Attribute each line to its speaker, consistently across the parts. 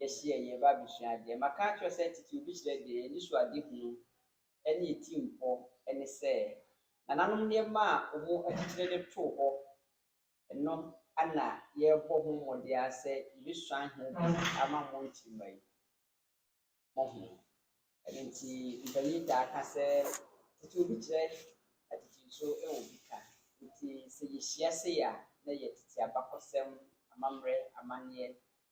Speaker 1: yɛhyɛ yɛn yɛn ba abɛsua adeɛ. Maka akyerɛ wo sɛ titiriw bi kyerɛ deɛ yɛn anisoadehunu ne yɛn tirimpɔ ne sɛ nananom nneɛma a wɔakyekyere de too hɔ no na yɛrebɔ ho mmɔden ara sɛ yɛbɛsuan ho bi ama mo nkyirimma yi. Mohu? Ɛno nti mpanin taa ka sɛ titiriw bi kyerɛ atitiriw so wɔ bi ka. Nti sɛ yɛhyia sei a na yɛtete abakɔsɛm, amammerɛ, amanneɛ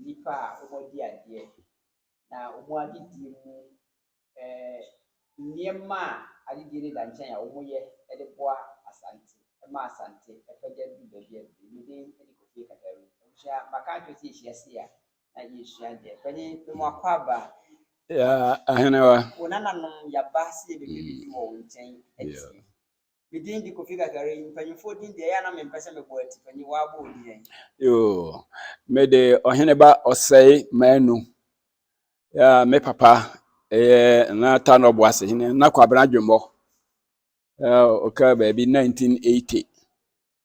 Speaker 1: nnipa a wɔadi adeɛ, na wɔn adedie mu nneɛma a adedie no da nkyɛn a wɔyɛ de boa Asante, ma Asante pagya du baabi a aduru yi. Me din de Kofi Katawu. Abusua, maka akyerɛ sɛ yɛhyia se a, na yɛsua deɛ. Panyin, mema wakɔ aba.
Speaker 2: Ahenewa. Wo nananom
Speaker 1: yɛaba se yɛbɛbɛdidi wɔ wo nkyɛn atie. Me din de Kofi Kakari. Mpanyimfoɔ din deɛ, ɛyɛ a na mempɛ sɛ mebɔ ati. Panyin, woabɔ odin ɛ? Yoo,
Speaker 2: mede Ɔheneba Ɔsɛe Manu. Ya, me papa ɛyɛ na Tanɔ Boase hene, na Kwabena Dwemmɔ. Ya, ɔka baabi 1980.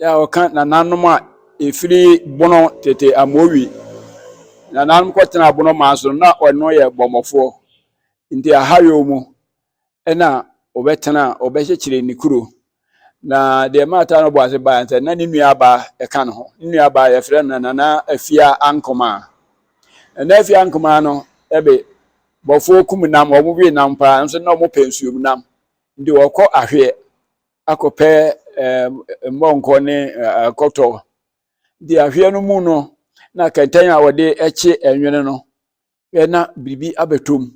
Speaker 2: Yɛ a wɔka nananom a ɛfiri bono tete amowi. Nananom kɔtena bono maa so no na ɔno yɛ bɔmmɔfoɔ. Nti ahayɔ mu ɛna ɔbɛtena ɔbɛkyekyere ne kuro. Na deɛ maata no bɔ ase baa sɛ na ne nua baa ɛka ne ho. Ne nua baa yɛfrɛ no nana afia ankomaa. Nana afia ankomaa no ɛbe bɔfoɔ kum nam wɔn we nam paa nso na wɔpɛ nsuom nam. Nti wɔkɔ ahweɛ. akɔpɛ mmɔnkɔ ne akɔtɔ de ahweɛ no mu no na kɛntɛn a wɔde kye nwene no na biribi abɛtɔ mu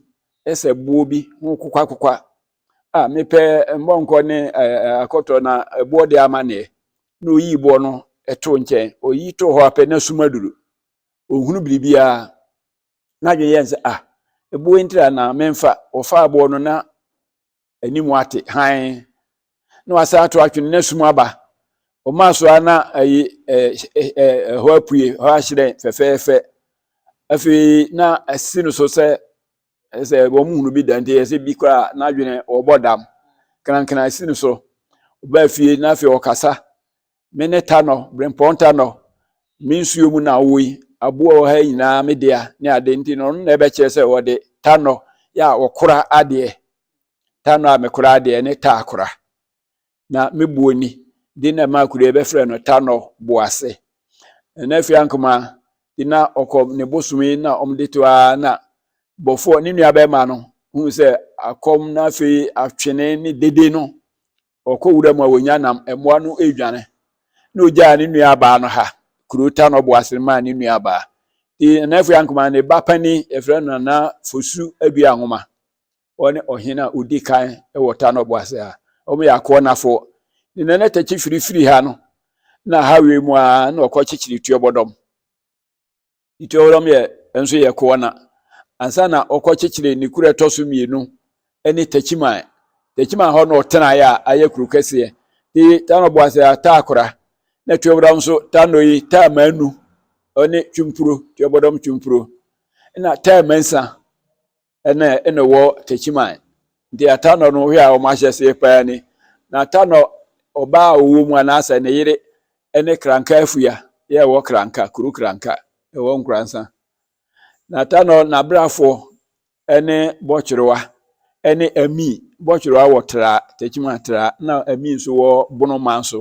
Speaker 2: sɛ boɔ bi ho kokwakokwa a mepɛ mmɔnkɔ ne akɔtɔ na boɔ de ama neɛ na oyi boɔ no to nkyɛn oyi to hɔ apɛ na sum aduru ohunu biribiara n'adwene yɛn sɛ ah eboɔ ntira na memfa wɔfa aboɔ no na anim ate hann na wasan ato atwene na sum aba ɔmaa so ara na ayi ɛhɔ apue hɔ ahyerɛn fɛfɛɛfɛ afei na asi no so sɛ sɛ wɔn hunu bi da nti ɛsɛ bi koraa n'adwene wɔbɔ dam krankran asi no so ɔbaa fie na afei ɔkasa Me ne Tanɔ, Brempɔn Tanɔ, me nsuo mu na ɔwɔ yi. Aboa wɔ ha nyinaa me dea ne ade nti no, ɔno na ɛbɛkyerɛ sɛ wɔde Tanɔ yɛ a ɔkora adeɛ. Tanɔ a mekora adeɛ ne Taakora. Na me boɔ ni, de na ɛma akuro yi bɛfrɛ no Tanɔ Boase. Na afei ankoma de na ɔkɔ ne bosomi na wɔde to ara na bɔfoɔ ne nua bɛrima no hu sɛ akɔm na afei atwene ne dede no Ɔkɔ wura mu a ɔnya nam, mmoa no redwane, na ɔgyaa ne nuabaa no ha, kuro ta no ɔbo ase no maa ne nuabaa. Nti Nana Afua Ankomah ne ba panin, yɛfrɛ no Nana Fosu Adua Nwoma, ɔne ɔhene a ɔdi kan wɔ ta no ɔbo ase ha, wɔyɛ akoɔnafoɔ. Ne Nana Takyi Firi firi ha no, na ha wei mu ara na ɔkɔkyekyere Tuobɔdɔm. Ituaoram yɛ nso yɛ Koana ansa na wɔkɔkyekyeree ne kuro a ɛtɔ so mmienu ne Techiman. Techiman hɔ na ɔtenaeɛ a ayɛ kuro kɛseɛ. Ti Tano Boase a taa kora na Tuaoram nso Tano yi taa manu ne Twumpuro, Tuabɔdɔm Twumpuro na taa mansa ɛna ɛna wɔ Techiman nti Atanɔ no hwɛ a wɔn ahyɛseɛ paa ni na Atanɔ ɔbaa a ɔwɔ mu anaasɛ ne yere ɛne Kranka afua yɛ ɛwɔ Kranka kuro Kranka ɛwɔ Nkoransa na Atanɔ n'abrafoɔ ɛne Bɔtwerewa ɛne Ami Bɔtwerewa wɔ Tra Techiman Tra na Ami nso wɔ Bonoman so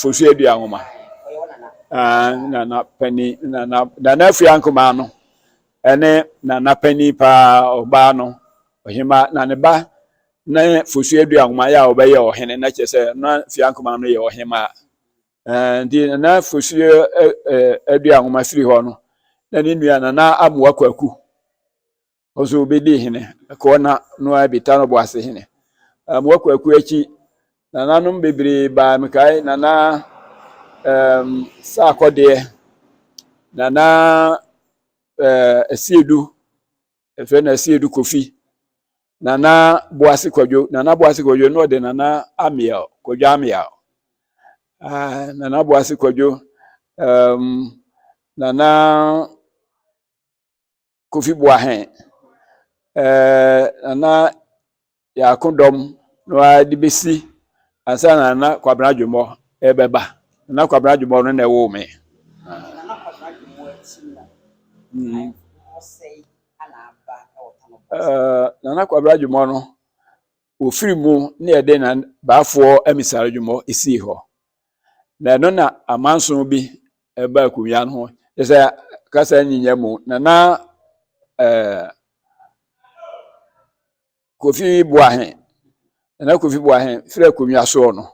Speaker 2: fosu adua nwoma nana panyin nana nana afia nkumaa no ɛne nana panyin paa ɔbaa no ɔhema na ne ba ne fosu adua nwoma yɛ a ɔbɛyɛ ɔhene na kyerɛ sɛ na afia nkumaa no yɛ ɔhema nti nana fosu adua nwoma firi hɔ no na ne nua nana amoa kwaku Ɔso obedi hene, ɛkɔɔ na no ara bi ta no boase hene. Um, wakɔ akuo akyi, nananom bebree baa mekae nana um, sɛ akɔdeɛ, nana uh, asiedu, ɛfɛ na asiedu kofi, nana boase kwadwo, nana boase kwadwo na ɔde nana amiel, kwadwo amiel, uh, nana boase kwadwo, um, nana Kofi Boahen, ɛɛ Nana Yaako dɔm no ara de bɛsi ansa na Nana Kwabena Adwommɔ ɛbɛba. Nana Kwabena Adwommɔ no na ɛwoo me. Nana Kwabena
Speaker 1: Adwommɔ akyi no, mm. ɔsɛe ana aba wɔ
Speaker 2: Tanobɔs? Nana Kwabena Adwommɔ no, ofiri mu na yɛde na baafoɔ amisar adwummɔ sii hɔ na ɛno na amanso bi ɛba akunya no ho kyɛ sɛ kasa nyinya mu na na eh, kofi boahe na kofi boahe firi akonnwa soɔ no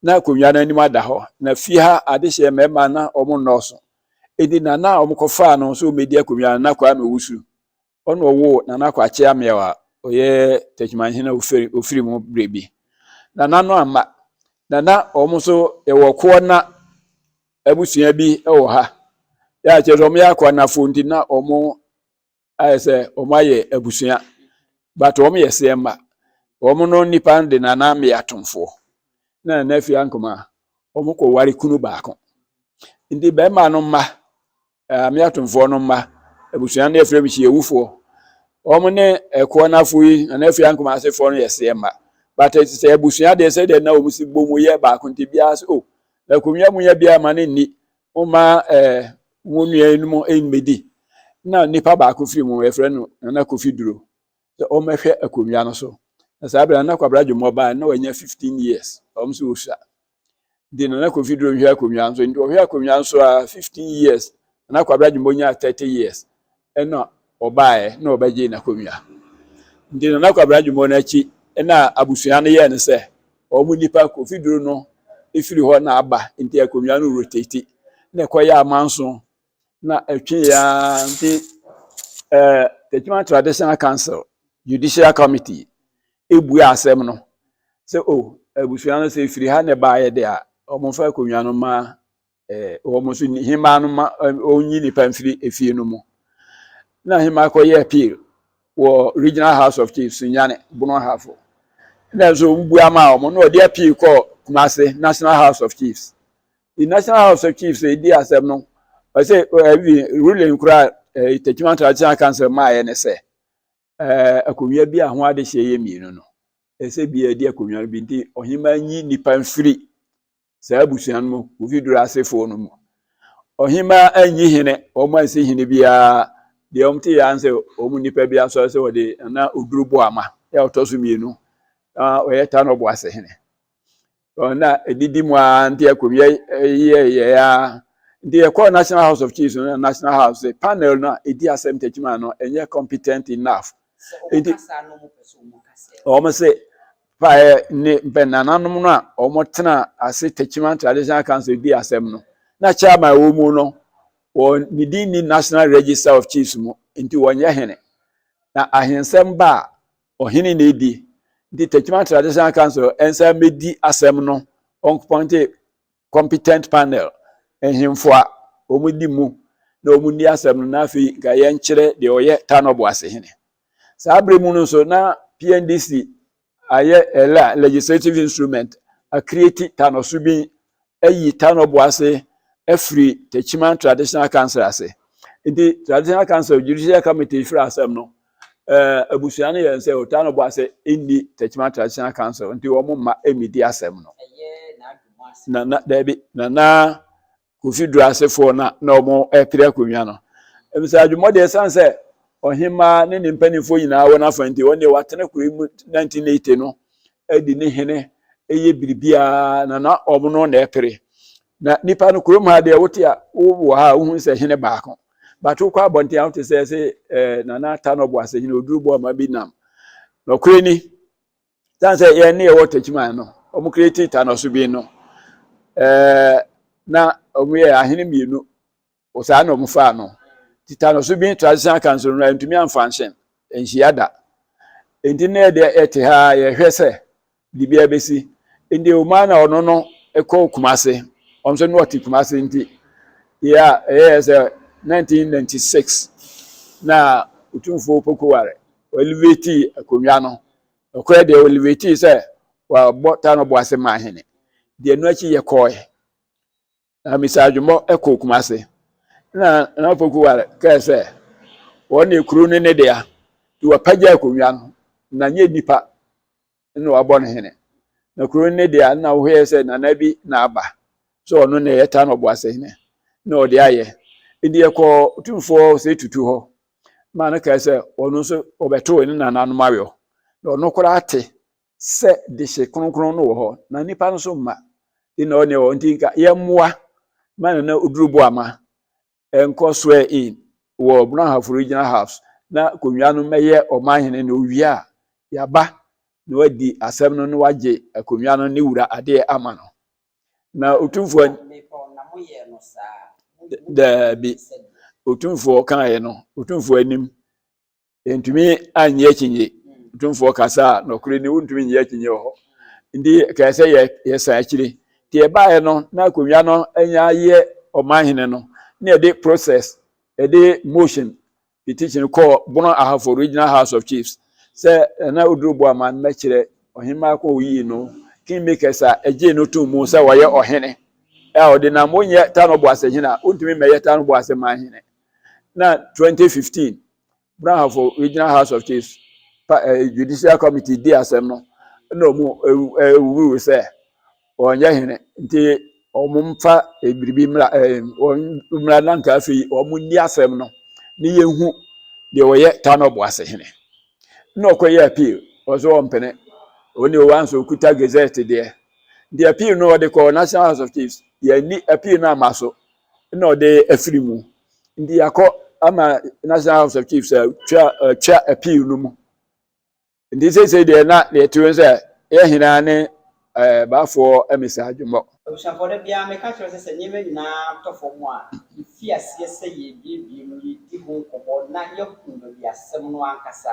Speaker 2: na akonnwa no anim ada hɔ na fi ha adehyeɛ mmarima na wɔn nnɔɔso edi na na wɔkɔfaa no nso wɔmɛdi akonnwa no na kwaa mewusu Ɔna ɔwoo Nana Kwakye Ameaw a ɔyɛ Techimanhene a ofiri ofiri mu berɛ bi. Nana no amma. Nana wɔn nso yɛwɔ Koɔna abusua bi wɔ ha. Yɛ a kyerɛ sɛ wɔyɛ Akoɔnafoɔ nti na wɔn ayɛ sɛ wɔn ayɛ abusua but wɔn yɛ seɛ mma. Wɔn no nipa de Nana Ameaw Tomfoɔ na Nana Afie Ankomaa. Wɔkɔ ware kunu baako. Nti bɛrima no mma Eh, me atomfoɔ no mma abusua no yɛfrɛ me hyiawufoɔ wɔn ne ɛkoɔ no afo yi na afei ankoma asefoɔ no yɛ seɛ mma but sɛ abusua deɛ sɛ deɛ na wɔn si bɔ mu yɛ baako nti biara sɛ o oh, na akonnwa mu yɛ biara ma ne nni wɔma ɛɛ eh, wɔn nua no mu mmɛdi na nipa baako firi mu yɛfrɛ no nana kofi duro sɛ wɔmmɛhwɛ akonnwa no so na saa abira na kwabra dwomɔ baa na wɔanya fifteen years wɔn nso wɔsua de Nana Kofi Duro hwɛ akonnwa nso nti ɔhwɛ akonnwa nso a 15 years na Kwabra Jumbo nyaa 30 years ɛna ɔbaeɛ na ɔbɛgye n'akonnwa nti Nana Kwabra Jumbo no akyi ɛna abusua no yɛɛ no sɛ wɔn nipa Kofi Duro no ɛfiri hɔ na aba nti akonnwa no rotate na ɛkɔyɛ amanso na ɛtwe yɛ ara nti ɛɛ Techiman Traditional Council Judicial Committee ebua asɛm no sɛ o oh, abusua no sɛ efiri ha na ɛbaeɛ de a wɔmfa akonnwa no ma ɛɛ wɔn nso hemaa no ma wɔnyi nipa mfiri efie no mu na hemaa kɔyɛ appeal wɔ Regional House of Chiefs Nyane Bono Ahafo na nso wobua ma wɔn na wɔde appeal kɔ Kumase National House of Chiefs the national house of chiefs edi asɛm no ɔsɛ ɛbi eh, eh, ruling kura ɛɛ eh, tetima traditional council maa yɛ ne sɛ ɛɛ akonnwa bi a ho adehyɛ yɛ mmienu no ɛsɛ bi ɛdi akonnwa no bi nti ɔhemaa nyi nipa nfiri saa abusua no mu ofi duro asefoɔ no mu ɔhemaa anyi hene wɔn ansi hene biara deɛ wɔn te yɛ ansɛ wɔn nipa bi asɔre sɛ wɔde na oduro bɔ ama yɛ ɔtɔ so mmienu na ɔyɛ tanɔ bɔ ase hene. na ɛdidi mu ara nti ɛkɔwiɛ yɛyɛ ara nti yɛkɔɔ national house of chiefs no national house sɛ panel no a ɛdi asɛm takyima no ɛnyɛ competent enough nti wɔn sɛ paɛ ne mpɛnananom no a wɔn tena ase takyima traditional council di asɛm no na chairman wɔ mu no wɔn ne din ni national register of chiefs mu nti wɔnyɛ hene na ahensɛm ba a Ɔhene na edi. Nti Techiman Traditional Council nsa mmedi asɛm no, wɔnkɔpɔnte competent panel, nhemfo a wɔdi mu na wɔnni asɛm no na afei nka yɛnkyerɛ deɛ ɔyɛ Tano Boase hene. Saa berɛ mu no nso na PNDC ayɛ ɛla legislative instrument, akreati Tano Subin ayi tanɔboa ase afiri Techiman Traditional Council ase. Nti Traditional Council Judicial Committee firi asɛm no, eh, abusua no yɛ nsɛ o, tanɔboa ase nni Techiman Traditional Council, nti wɔn mma mmedi asɛm no. Na na daabi, na na Kofi Duro asefoɔ na na wɔn ɛpere akonnwa no. Ebisa adwuma deɛ ɛsan sɛ ɔhemaa ne ne mpanimfoɔ nyinaa wɔn afa nti wɔn deɛ wɔatena kuro yi mu 1980 no adi ne hene yɛ biribiara na na wɔn no na ɛpere na nipa no kurom ha deɛ wote a wowɔ ha a wohu sɛ hene baako bato kɔ abɔnten a wote sɛ sɛ eh, nana ata no ɔboase hene oduru bɔ ɔma bi nam nɔkorɛ ni tan sɛ yɛn ne yɛwɔ takyiman no wɔn kura ti ta no so bi no eh, na wɔn yɛ ahene mmienu Wɔ saa na wɔfaa no. Tetanus bi, traditional cancer, no antumi amfa anhyɛ nhyia da. Enti na yɛde yɛte ha a yɛhwɛ sɛ biribiara bɛsi. Enti Omar na ɔno no kɔɔ Kumase. Ɔno nso na ɔte Kumase nti yɛ a ɛyɛɛ sɛ 1996 na Otumfoɔ Opoku Ware ɔelevatii akonnwa no. Ɔkɔɛ deɛ ɔelevatii sɛ wabɔ Tano Boase Mahene. Deɛ ɛno akyi yɛkɔɔe. Na Mr. Adwommɔ kɔɔ Kumase na Nana Pokuware kae sɛ wɔn ne kuro no ne dea nti wapagya akonnwa no na nyɛ nipa na wabɔ no hene na kuro no ne dea na wohwɛ sɛ nana bi na aba sɛ ɔno na ɛyɛ ta na ɔbɔ ase hene na ɔde ayɛ nti yɛkɔɔ tumfoɔ sɛ tutu hɔ ma no kae sɛ ɔno nso ɔbɛtoo ne nananom awɔ na ɔno koraa te sɛ dehye kronkron no wɔ hɔ na nnipa no so mma de na ɔne wɔ nti nka yɛmmoa ma nana oduru boama ɛnkɔ swear in wɔ brɔnhafo regional house na konwa no mɛyɛ ɔman hene na owie a yaba na wadi asɛm no na wagye akonwa no ne wura adeɛ ama no na otumfoɔ daabi otumfoɔ kaeɛ no otumfoɔ anim Yɛntumi anyɛ akyinnye. Tumfoɔ kasa a nɔkore ni wontumi nyɛ akyinnye wɔ hɔ. Nti kae sɛ yɛ yɛsan akyiri. Nti yɛbaeɛ no na akonnwa no anya ayɛ ɔman hene no na yɛde process yɛde motion petition kɔɔ Bono Ahafo Regional House of Chiefs sɛ Nana Oduro Boaman mmɛkyerɛ ɔhemmaa ko a oyii no kingmakers a ɛgyee no too mu sɛ wɔyɛ ɔhene a ɔde nam wonyɛ Tano Boasehene a wontumi mmɛyɛ Tano Boaseman hene na 2015 Brahafoɔ regional house of chiefs pa ɛɛ eh, judicial committee di asɛm no na wɔn ɛwuru eh, sɛ wɔnyɛ hene nti wɔn mfa eh, biribi mmra ɛɛ eh, wɔn mmra na nka afei wɔn nni asɛm no ne yɛn hu deɛ wɔyɛ tano bo ase hene na ɔkɔyɛ appeal wɔn so wɔn mpene wɔn deɛ wɔn nso kuta gazette deɛ nti appeal no wɔde kɔɔ national house of chiefs yɛn ni appeal no ama so na ɔde afiri mu nti yɛakɔ ama national house of chiefs atwa atwa appeal no mu nti seesei deɛ na deɛ ɛte wɔn sɛ yɛ hena ne ɛɛ baafoɔ mmisa adwemmɔ. Abusuafoɔ da biara
Speaker 1: meka kyerɛ sɛ sɛ nneɛma nyinaa tɔ fam a yɛfi aseɛ sɛ yɛrebiebie mu yɛdi ho nkɔmmɔ na yɛahu baabi asɛm no ankasa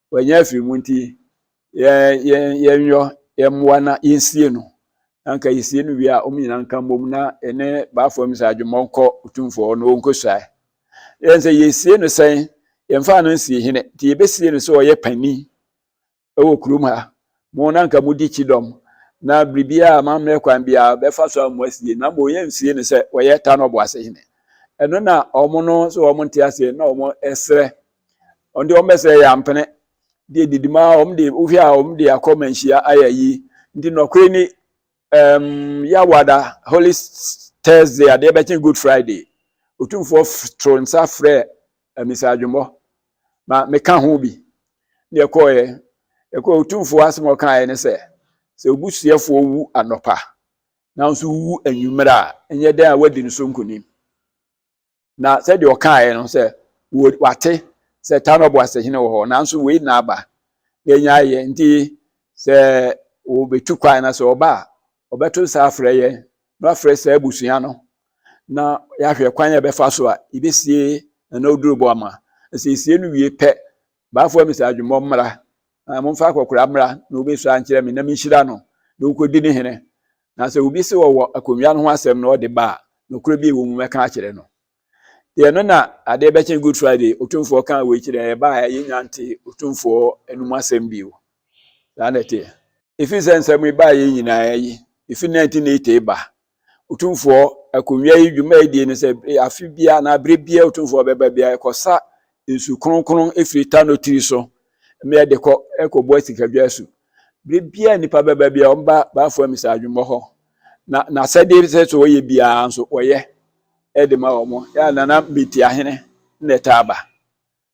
Speaker 2: Wanya afiri mu nti, yɛnyɔ yɛn mmoa na yɛnsie no. Na nka yɛsie no wie a, wɔn nyinaa nka mmom na ɛne baafo mu sɛ adwemmɔ nkɔ otumfoɔ na ɔnkɔsuae. Yɛn sɛ yɛsie no sɛn? Yɛmfaa no nsie hene nti yɛbɛsie no sɛ ɔyɛ panin wɔ kurom ha. Mo na nka modi kyidɔm na biribiara a mammrɛ kwan biara bɛfa so a mo asie na mmom yɛnsie no sɛ ɔyɛ Tanɔboase hene. Ɛno na wɔn no sɛ wɔn nte aseɛ na wɔn srɛ wɔn de wɔn bɛsɛ yɛ ampene deɛ didi ma wɔn de wohwɛ a wɔn de akɔ manhyia ayɛ ayi nti nɔkore ni ɛɛm yawada holy thursday adeɛ bɛkyɛn good friday otumfoɔ toro nsa frɛ amisa adwumɔ ma meka ho bi deɛ kɔɔɛ ɛkɔ otumfoɔ asɛm ɔkaeɛ ne sɛ sɛ obusuafoɔ wu anɔpa nanso wu anwummerɛ a ɛnyɛ dɛn a wadi ne so nkonim Na sɛdeɛ ɔkaeɛ no sɛ wate sɛ Tano Boasehene wɔ hɔ nanso wei na aba na ɛnya ayɛ nti sɛ wɔbɛtu kwan na sɛ ɔba a ɔbɛto nsa afrɛ yɛn na wafrɛ saa abusua no na yɛahwɛ kwan a ɛbɛfa so a yɛbɛsie na na ɔduru bɔ ama na sɛ yɛsie no wie pɛ Baafoɔ me sɛ adwemmɔ mmra, na momfa akɔkora mmra na wobɛsua nkyerɛ me na menhyira no na ɔnkɔdi ne hene. Na sɛ obi se ɔwɔ akonnwa no ho asɛm na ɔde ba a, nokorɛ bi a ɛwɔ mu mɛka akyerɛ no. Deɛ no na adeɛ bɛkye Good Friday, Otumfoɔ kaa wei kyerɛɛ yɛn, ɛbaeɛ a yɛnnya ntee Otumfoɔ anom asɛm bio. Saa na ɛteɛ. Ɛfiri sɛ nsɛm yi baeɛ nyinaa yi, ɛfiri 1980 ba Otumfoɔ akonnwa yi dwumadie no sɛ afe biara anaa berɛ biara Otumfoɔ bɛba biara ɛkɔsa nsu kronkron firi Tano tiri so mmeɛ de kɔ ɛkɔbɔ asikadwa asu. Berɛ biara nnipa bɛba biara wɔba Baafoɔ Amisa adwummɔ hɔ na n'asɛdeɛ sɛ sɛ wɔyɛ biara nso wɔyɛ de ma wɔn. Yɛ a Nana Metiahene na ɛtaa ba.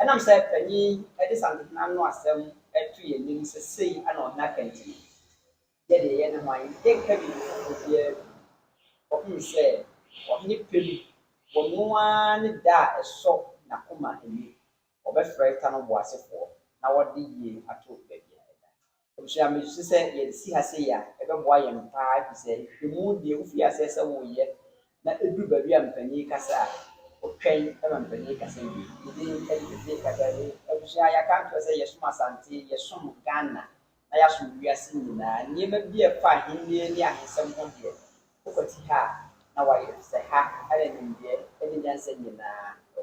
Speaker 1: Ɛnam sɛ panyin yi de Santehene no asɛm to yɛn anim sɛ sei na ɔhene aka nti no, yɛ deɛ yɛne hwan? Yɛnka biribi foforɔ biara bio. Wɔhunu sɛ ɔhene pɛ mu, wɔno ara ne da a ɛsɔ n'akoma ani. Wɔbɛfrɛ ta no boasefoɔ na wɔde yie ato baabi a ɛda. Abusua, misusu sɛ yɛde si ha sei a, ɛbɛboa yɛn paa efisɛ nhwehwɛmu deɛ wofiri aseɛ sɛ woreyɛ na ɛduru baabi a mpanin rekasa a, wotwɛn ma mpanin rekasa wie. Ne din de Tete Kagari. Abusua, yɛaka akyerɛ sɛ yɛsom Asante, yɛsom Ghana, na yɛasom wiase nyinaa. Nneɛma bi a ɛfa Ahennie ne ahensɛm ho deɛ, wokwati ha a, na woayɛ efisɛ ha na nimdeɛ ne nyansa nyinaa wɔ.